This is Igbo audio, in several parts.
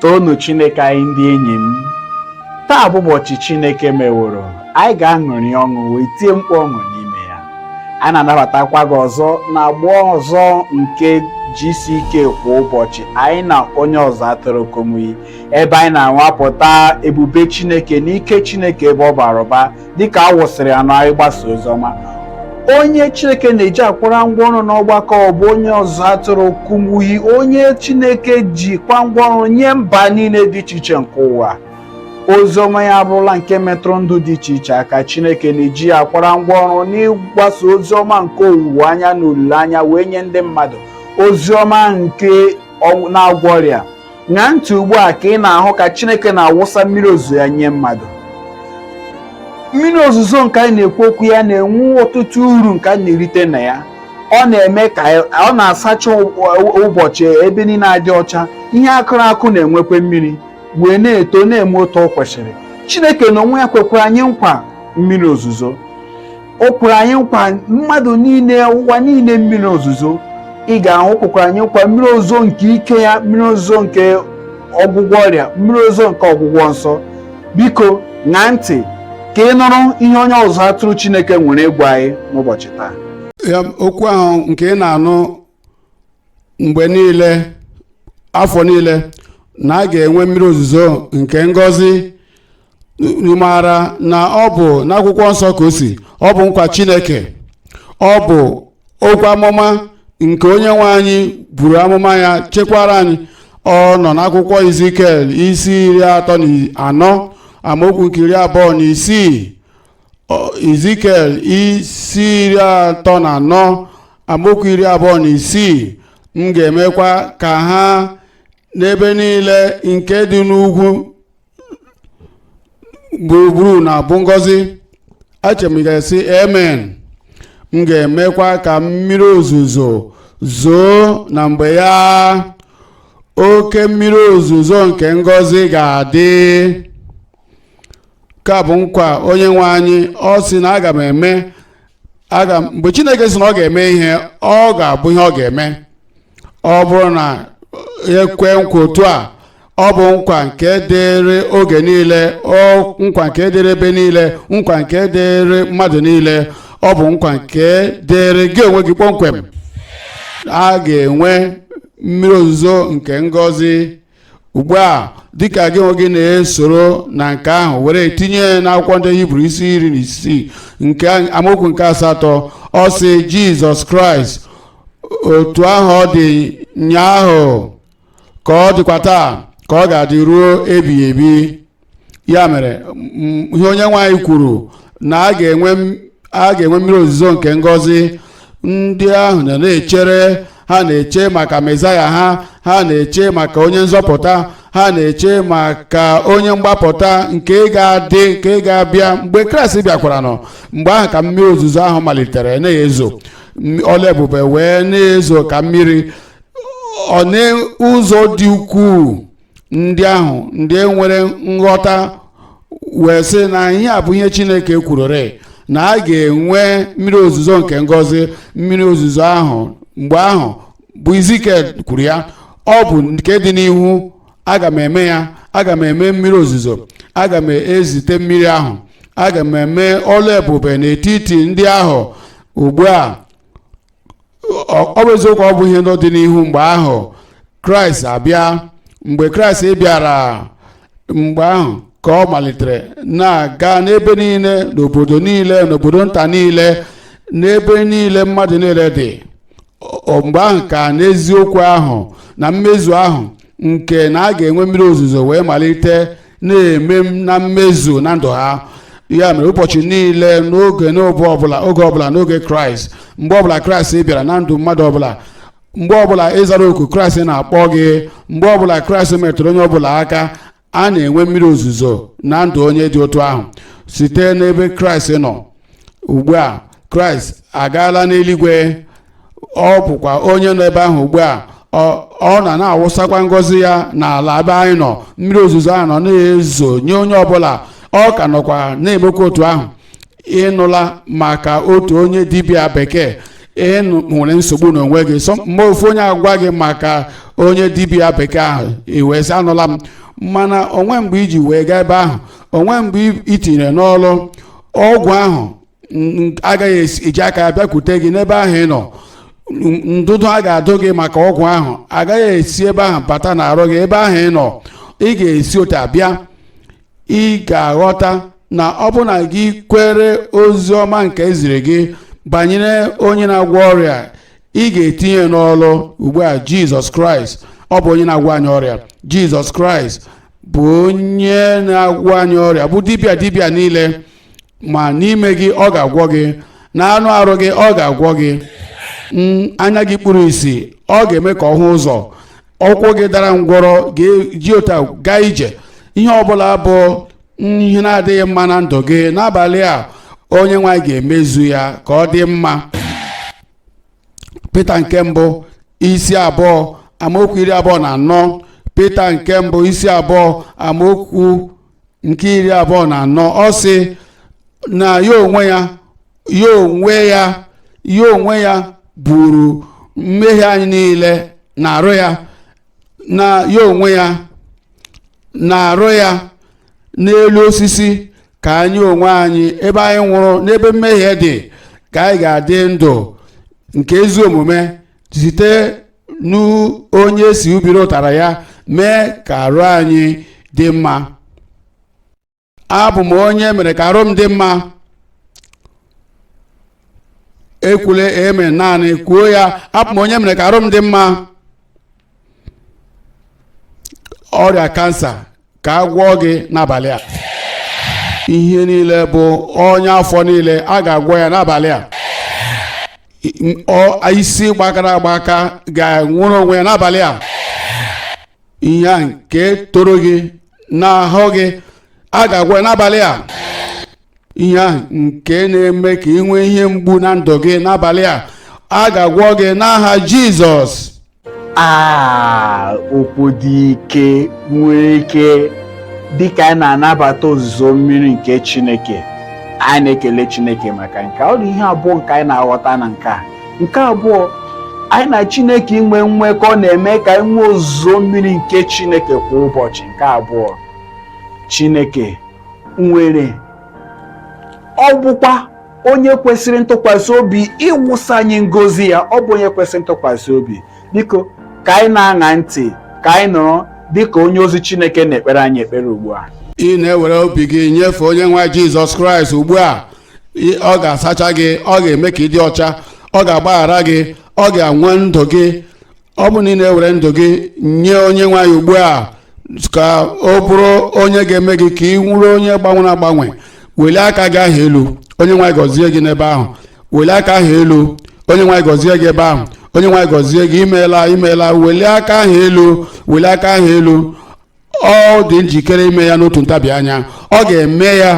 toonu chineke anyị ndị enyi m taa bụ ụbọchị chineke meworo anyị ga-aṅụrị ọṅụ wee tie mkpu ọṅụ n'ime ya a na-anabatakwa gị ọzọ na agba ọzọ nke gck kwa ụbọchị anyị na onye ọzụ atụrụ kumuyi ebe anyị na-anwapụta ebube chineke na ike chineke ebe ọ bara ụba dịka a wụsịrị ya na ịgbasa ozi ọma onye chineke na-eji akwara ngwa ọrụ n'ọgbakọ ọ bụ onye ọzụ atụrụ kumuyi onye chineke ji kwa ngwa ọrụ nye mba niile dị iche iche nke ụwa ozi ọma ya abụrụla nke metụrụ ndụ dị iche iche aka chineke na-eji ya akwara ngwa ọrụ n'ịgbasa ozi ọma nke owuwe anya na olileanya wee nye ndị mmadụ ozi ọma nke na-agwọ ọrịa Ṅaa ntị ugbu a ka ị na-ahụ ka Chineke na-awụsa mmiri ozuzo ya nye mmadụ. Mmiri ozuzo nke anyị na-ekwu okwu ya na-enwe ọtụtụ uru nke anyị na-erite na ya. Ọ na-eme ka ọ na-asacha ụbọchị ebe niile adị ọcha, ihe a kụrụ akụ na-enwekwa mmiri wee na-eto na-eme otu o kwesịrị. Chineke n'onwe ya kwekwara anyị nkwa mmiri ozuzo. o kwere anyị nkwa mmadụ niile ụwa niile mmiri ozuzo ị ga-ahụ kwekwara anyị nkwa mmiri ozuzo nke ike ya mmiri ozuzo nke ọgwụgwọ ọrịa mmiri ozuzo nke ọgwụgwọ nsọ biko ṅaa ntị ka ị nụrụ ihe onye ọzụ atụrụ Chineke nwere ịgwa anyị n'ụbọchị taa okwu ahụ nke ị na-anụ mgbe niile afọ niile na a ga-enwe mmiri ozuzo nke ngọzi unu maara na ọ bụ n'akwụkwọ nsọ ka o si ọ bụ nkwa chineke ọ bụ okwu amụma nke onye nwe anyị buru amụma ya chekwara anyị ọ nọ n'akwụkwọ izikiel isi iri atọ na anọ amaokwu nke iri abụọ na isii izikiel isi iri atọ na anọ amaokwu iri abụọ na isii m ga-emekwa ka ha na ebe niile nke dị n'ugwu gburugburu na-abụ ngọzi echere m ị ga-asị amen m ga-emekwa ka mmiri ozuzo zoo na mgbe ya oke mmiri ozuzo nke ngọzi ga-adị nke a bụ nkwa onye nwe anyị ọ sị na aga m eme aga m mgbe chineke sị na ọ ga-eme ihe ọ ga-abụ ihe ọ ga-eme ọ bụrụ na e kwe nkwa otu a ọ bụ nkwa nke dịrị oge niile nkwa nke dịrị ebe niile nkwa nke dịrị mmadụ niile ọ bụ nkwa nke dịrị gị onwe gị kpọmkwem a ga-enwe mmiri ozuzo nke ngọzi ugbu a dịka gị onwe gị na-esoro na nke ahụ were tinye n'akwụkwọ ndị hibru isi iri na isii nke amaokwu nke asatọ ọ sị jizọs kraịst otu ahụ ọ dị nyaahụ ka ọ dịkwa taa ka ọ ga-adị ruo ebighị ebi ya mere m- ihe onyenweanyị kwuru na a ga-enwe mmiri ozuzo nke ngọzi ndị ahụ nọ na-echere ha na-eche maka mezaya ha ha na-eche maka onye nzọpụta ha na-eche maka onye mgbapụta nke ga-adị nke ga-abịa mgbe kraịst bịakwara nọ mgbe ahụ ka mmiri ozuzo ahụ malitere na-ezo ọlụ ebube wee na-ezo ka mmiri ọ n'ụzọ dị ukwuu ndị ahụ ndị nwere nghọta wee sị na ihe a bụ ihe chineke kwururi na a ga-enwe mmiri ozuzo nke ngọzi mmiri ozuzo ahụ mgbe ahụ bụ izikel kwuru ya ọ bụ nke dị n'ihu aga m eme ya aga m eme mmiri ozuzo aga m ezite mmiri ahụ aga m eme ọlụ ebube n'etiti ndị ahụ ugbu a ọ bụ eziokwu ọ bụ ihe n'ọdịnihu mgbe ahụ kraịst abịa mgbe kraịst bịara mgbe ahụ ka ọ malitere na-aga n'ebe niile n'obodo niile n'obodo nta niile n'ebe niile mmadụ niile dị mgbe ahụ ka n'eziokwu ahụ na mmezu ahụ nke na a ga-enwe mmiri ozuzo wee malite na-eme m na mmezu na ndụ ha ya mere ụbọchị niile n'oge n'obe ọbụla oge ọbụla n'oge kraịst mgbe ọbụla kraịst bịara na ndụ mmadụ ọbụla mgbe ọbụla ị zara oku kraịst na-akpọ gị mgbe ọbụla kraịst metụrụ onye ọbụla aka a na-enwe mmiri ozuzo na ndụ onye dị otu ahụ site n'ebe kraịst nọ ugbu a kraịst agaala n'eluigwe ọ bụkwa onye nọ ebe ahụ ugbu a ọ- ọ nọ na-awụsakwa ngọzi ya n'ala ebe anyị nọ mmiri ozuzo ahụ nọ na-ezo nye onye ọbụla ọ ka nọkwa na-emekwa otu ahụ ị nụla maka otu onye dibịa bekee ị nwere nsogbu n'onwe gị mgbe ofu onye agwa gị maka onye dibịa bekee ahụ ị wee sị anụla m mana o nweghị mgbe i ji wee gaa ebe ahụ o nweghị mgbe i tinyere n'ọlụ ọgwụ ahụ n- agaghị esi- eji aka ya bịakwute gị n'ebe ahụ ị nọ n- ndụdụ a ga-adụ gị maka ọgwụ ahụ agaghị esi ebe ahụ bata n'arụ gị ebe ahụ ị nọ ị ga-esi otu a bịa ị ga-aghọta na ọ bụ na gị kwere ozi ọma nke e ziri gị banyere onye na-agwọ ọrịa ị ga-etinye n'ọlụ ugbu a jizọs kraịst ọ bụ onye na-agwọ anyị ọrịa jizọs kraịst bụ onye na-agwọ anyị ọrịa bụ dibịa dibịa niile ma n'ime gị ọ ga-agwọ gị na anụ arụ gị ọ ga-agwọ gị anya gị kpuru isi ọ ga-eme ka ọ hụ ụzọ ụkwụ gị dara ngwọrọ ga-eji ọtọ gaa ije ihe ọbụla bụ ihe na-adịghị mma na ndụ gị n'abalị a onye nwe anyị ga-emezu ya ka ọ dị mma pita nke mbụ isi abụọ amaokwu iri abụọ na anọ pita nke mbụ isi abụọ amaokwu nke iri abụọ na anọ ọ sị na ya onwe ya ya onwe ya ya onwe ya buru mmehie anyị niile n'arụ ya na ya onwe ya n'arụ ya n'elu osisi ka anyị onwe anyị ebe anyị nwụrụ n'ebe mmehie dị ka anyị ga-adị ndụ nke ezi omume site n'onye si ubiri ụtarị ya mee ka arụ anyị dị mma abụ m onye mere ka arụ m dị mma ekwule amen naanị kwuo ya abụ m onye mere ka arụ m dị mma ọrịa kansa ka a gwọọ gị n'abalị a ihe niile bụ ọnya afọ niile a ga-agwọ ya n'abalị a isi gbakara agbaka ga-enwere onwe ya n'abalị a ihe a nke toro gị n'ahụ gị a ga-agwọ ya n'abalị a ihe a nke na-eme ka ị nwee ihe mgbu na ndụ gị n'abalị a a ga-agwọ gị n'aha jizọs a okwu dị ike nwere ike dịka anyị na-anabata ozuzo mmiri nke chineke anyị na-ekele chineke maka nke a. ọ dị ihe abụọ nke anyị na-aghọta na nke a nke abụọ anyị na Chineke inwe nwekọ na-eme ka anyị nwee ozuzo mmiri nke Chineke kwa ụbọchị nke abụọ Chineke nwere ọ bụkwa onye kwesịrị ntụkwasị obi ịwụsa anyị ngozi ya ọ bụ onye kwesịrị ntụkwasị obi biko ka anyị na-aṅa ntị ka anyị nọrọ dịka onye ozi Chineke na-ekpere anyị ekpere ugbu a ị na-ewere obi gị nyefee onye nwe anyị Jizọs Kraịst ugbu a ọ ga-asacha gị ọ ga-eme ka ị dị ọcha ọ ga-agbaghara gị ọ ga-agbanwe ndụ gị ọ bụ na ị na-ewere ndụ gị nye onye nwe anyị ugbu a ka ọ bụrụ onye ga-eme gị ka ị bụrụ onye gbanwere agbanwe welie aka gị ahụ elu onye nwe anyị gọzie gị n'ebe ahụ welie aka ahụ elu onye nwe anyị gọzie gị ebe ahụ onye nwe anyị gọzie gị imeela imeela welie aka ahụ elu welie aka ahụ elu ọ dị njikere ime ya n'otu ntabi anya ọ ga-eme ya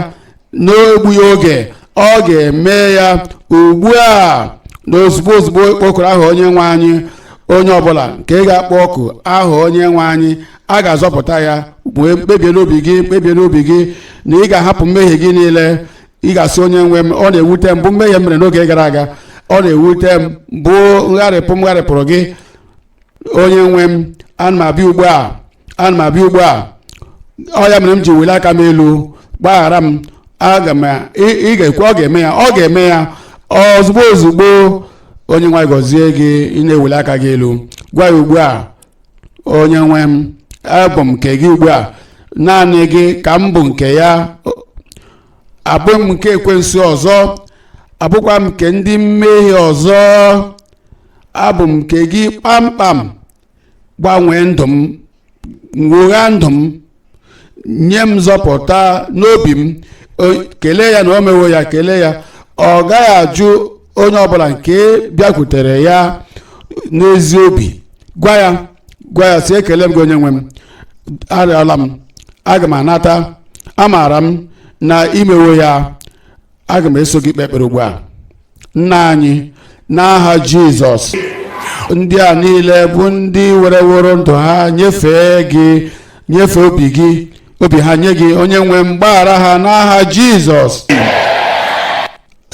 n'egbughị oge ọ ga-eme ya ugbu a na ozugbo ozugbo kpọkuru aha onye nwe anyị onye ọbụla nke ga-akpọku aha onye nwe anyị a ga-azọpụta ya kpebie n'obi gị kpebie n'obi gị na ị ga-ahapụ mmehie gị niile ị ga-asị onye nwe m ọ na-ewute m bụ mmehie m mere n'oge gara aga ọ na-ewute m bụ ngharịpụ m gharịpụrụ gị onye nwe m ana m abịa ugbu a ana m abịa ugbu a ọ ya mere m ji weli aka m elu gbaghara m aga m ị ị ga-ekwe ọ ga-eme ya ọ ga-eme ya ozugbo ozugbo onye nwe anyị gọzie gị ị na-eweli aka gị elu gwa ya ugbu a onye nwe m abụ m nke gị ugbu a naanị gị ka m bụ nke ya abụghị m nke ekwensu ọzọ abụghịkwa m nke ndị mmehie ọzọ abụ m nke gị kpamkpam gbanwee ndụ m nwogha ndụ m nye m nzọpụta n'obi m kelee ya na o mewo ya kelee ya ọ gaghị ajụ onye ọbụla nke bịakwutere ya n'ezi obi gwa ya gwa ya sị ekele m gị onye nwe m arịọla m aga m anata amaara m na i mewo ya aga m eso gị kpee ekpere ugbu a nna anyị n'aha jizọs ndị a niile bụ ndị wereworo ndụ ha nyefee gị nyefee obi gị obi ha nye gị onye nwe m gbaghara ha n'aha jizọs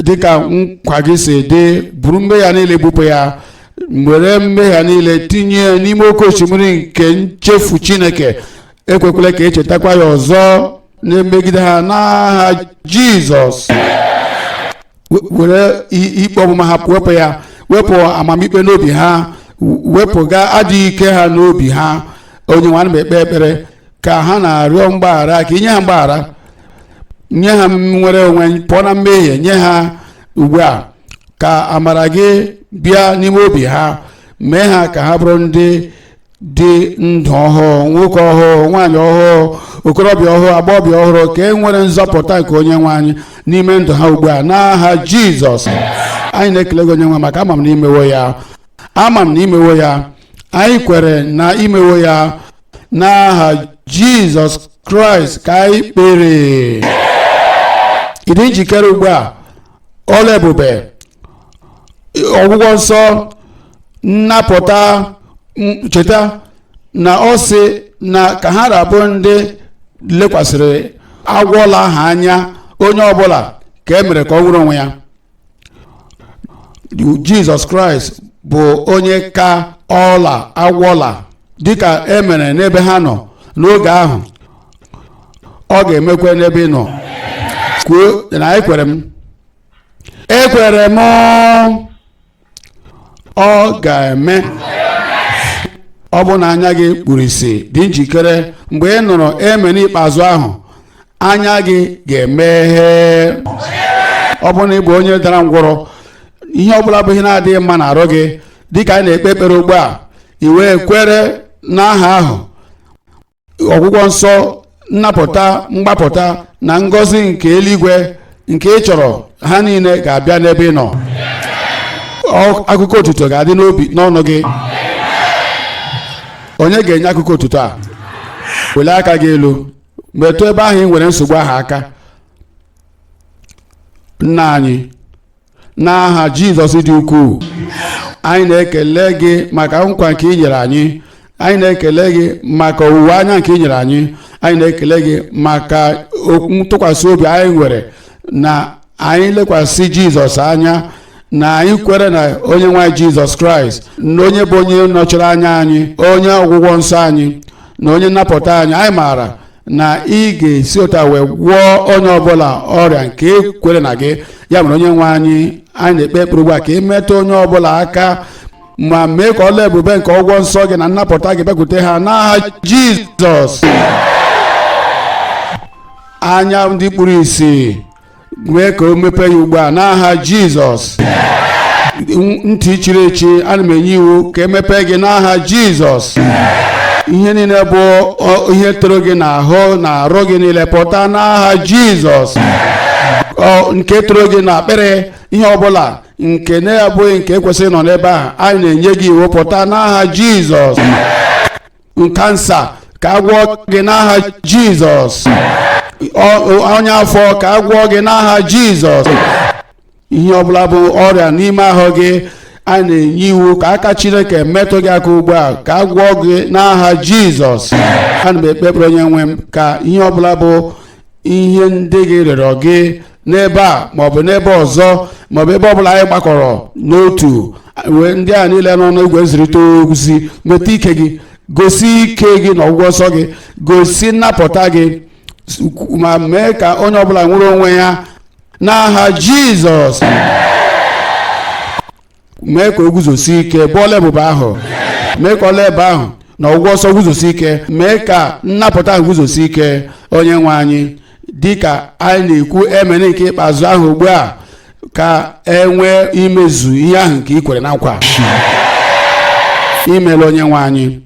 dịka nkwa gị si dị buru mmehie ha niile bupụ ya were mmehie ha niile tinye ya n'ime oke osimiri nke nchefu chineke ekwekwele ka e chetakwa ya ọzọ na-emegide ha n'aha jizọs were ikpe ọmụma ha wepụ ya wepụ amamikpe n'obi ha wepụga adịghị ike ha n'obi ha onye nwe anyị ana m ekpe ekpere ka ha na-arịọ mgbaghara ka i nye ha mgbaghara nye ha nnwere onwe pụọ na mmehie nye ha ugbu a ka amara gị bịa n'ime obi ha mee ha ka ha bụrụ ndị dị ndụ ọhụụ nwoke ọhụụ nwaanyị ọhụụ okorobịa ọhụụ agbọghọbịa ọhụrụ ka e nwere nzọpụta nke onye nwe anyị n'ime ndụ ha ugbu a n'aha jizọs anyị na-ekele gị onye nwe anyị maka ama m na i mewo ya ama m na i mewo ya anyị kwere na i mewo ya n'aha jizọs kraịst ka anyị kpere ị dị njikere ugbu a ọrụ ebube ọgwụgwọ nsọ nnapụta m- cheta na ọ sị na ka ha ra bụ ndị lekwasịrị agwọ ọla ahụ anya onye ọbụla ka e mere ka ọ nwere onwe ya jizọs kraịst bụ onye ka ọla agwọ ọla dịka e mere n'ebe ha nọ n'oge ahụ ọ ga-emekwa n'ebe ị nọ kwuo na ekwere m ekwere m ọ ga-eme ọ bụrụ na anya gị kpuru isi dị njikere mgbe ị nụrụ amen ikpeazụ ahụ anya gị ga-emeghe ọ bụrụ na ị bụ onye dara ngwọrọ ihe ọ bụla bụ ihe na-adịghị mma n'arụ gị dịka anyị na-ekpe ekpere ugbu a i wee kwere n'aha ahụ ọgwụgwọ nsọ nnapụta mgbapụta na ngọzi nke eluigwe nke ị chọrọ ha niile ga-abịa n'ebe ị nọ Ọ- akụkọ otuto ga-adị n'obi n'ọnụ gị onye ga-enye akụkọ otuto a welie aka gị elu metụ ebe ahụ ị nwere nsogbu ahụ aka nna anyị n'aha jizọs dị ukwuu anyị na-ekele gị maka nkwa nke ị nyere anyị anyị na-ekele gị maka owuwe anya nke ị nyere anyị anyị na-ekele gị maka ntụkwasị obi anyị nwere na anyị lekwasị jizọs anya na anyị kwere na onye nwe anyị jizọs kraịst na onye bụ onye nọchiri anya anyị onye ọgwụgwọ nsọ anyị na onye nnapụta anyị anyị maara na ị ga-esi otu a wee gwọọ onye ọbụla ọrịa nke kwere na gị ya mere onye nwe anyị anyị na-ekpe ekpere ugbu a ka ị metụ onye ọbụla aka ma mee ka ọlụ ebube nke ọgwụgwọ nsọ gị na nnapụta gị bịakwute ha n'aha jizọs anya ndị kpuru isi mee ka o mepee ya ugbu a n'aha jizọs ntị chiri echi ana m enye iwu ka e mepee gị n'aha jizọs ihe niile bụ ihe toro gị n'ahụ na arụ gị niile pụta n'aha jizọs nke toro gị na akpịrị ihe ọbụla nke na-abụghị nke kwesịrị ịnọ n'ebe ahụ anyị na-enye gị iwu pụta n'aha jizọs kansa ka a gwọọ gị n'aha jizọs ọnya afọ ka a gwọọ gị n'aha jizọs ihe ọbụla bụ ọrịa n'ime ahụ gị a na-enye iwu ka aka chineke metụ gị aka ugbu a ka a gwọọ gị n'aha jizọs ana m ekpe ekpere onye nwe m ka ihe ọbụla bụ ihe ndị gị rịọrọ gị n'ebe a maọbụ n'ebe ọzọ maọbụ ebe ọbụla anyị gbakọrọ n'otu ndị a niile nọ n'igwe nzirịta ozi nweta ike gị gosi ike gị na ọgwụgwọ nsọ gị gosi nnapụta gị ma mee ka onye ọbụla nwere onwe ya n'aha jizọs mee ka o guzosie ike bụ ọlụ ebube ahụ mee ka ọlụ ebube ahụ na ọgwụgwọ nsọ guzosie ike mee ka nnapụta ahụ guzosie ike onye nwe anyị dị ka anyị na-ekwu amen nke ikpeazụ ahụ ugbu a ka e nwee imezu ihe ahụ nke i kwere na nkwa imeela onye nwe anyị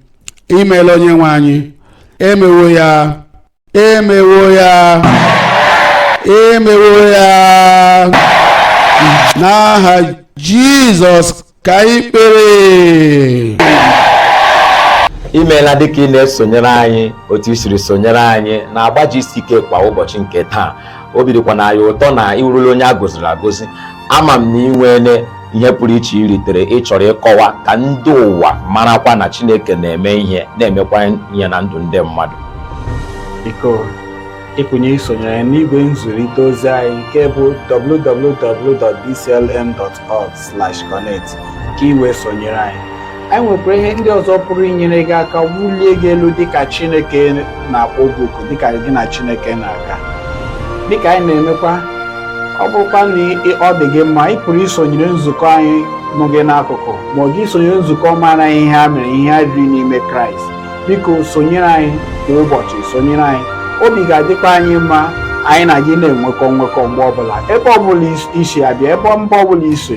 imeela onye nwe anyị emewo ya emewo ya emewo ya n'aha jizọs ka anyị kpere imeela dịka ị na-esonyere anyị otu i siri sonyere anyị n'agba GCK kwa ụbọchị nke taa obi dịkwa na anyị ụtọ na ị wụrụla onye a gọziri agọzi ama m na ị nwere ihe pụrụ iche i ritere ị chọrọ ịkọwa ka ndị ụwa marakwa na Chineke na-eme ihe na-emekwa ihe na ndụ ndị mmadụ biko ị pụrụ isonyere anyị n'igwe nzirịta ozi anyị nke bụ www.dclm.org/connect ka ị wee sonyere anyị anyị nwekwara ihe ndị ọzọ pụrụ inyere gị aka wulie gị elu dịka Chineke na-akpọ gị oku dịka gị na Chineke na-aga dịka anyị na-emekwa ọ bụrụkwa na ọ dị gị mma ị pụrụ isonyere nzukọ anyị nọ gị n'akụkụ ma ọ gị sonyere nzukọ mara ihe a mere ihe a riri n'ime Kraịst biko sonyere anyị kwa ụbọchị sonyere anyị obi ga-adịkwa anyị mma anyị na gị na-enwekọ nwekọ mgbe ọbụla ebe ọbụla i si abịa ebe mba ọbụla i si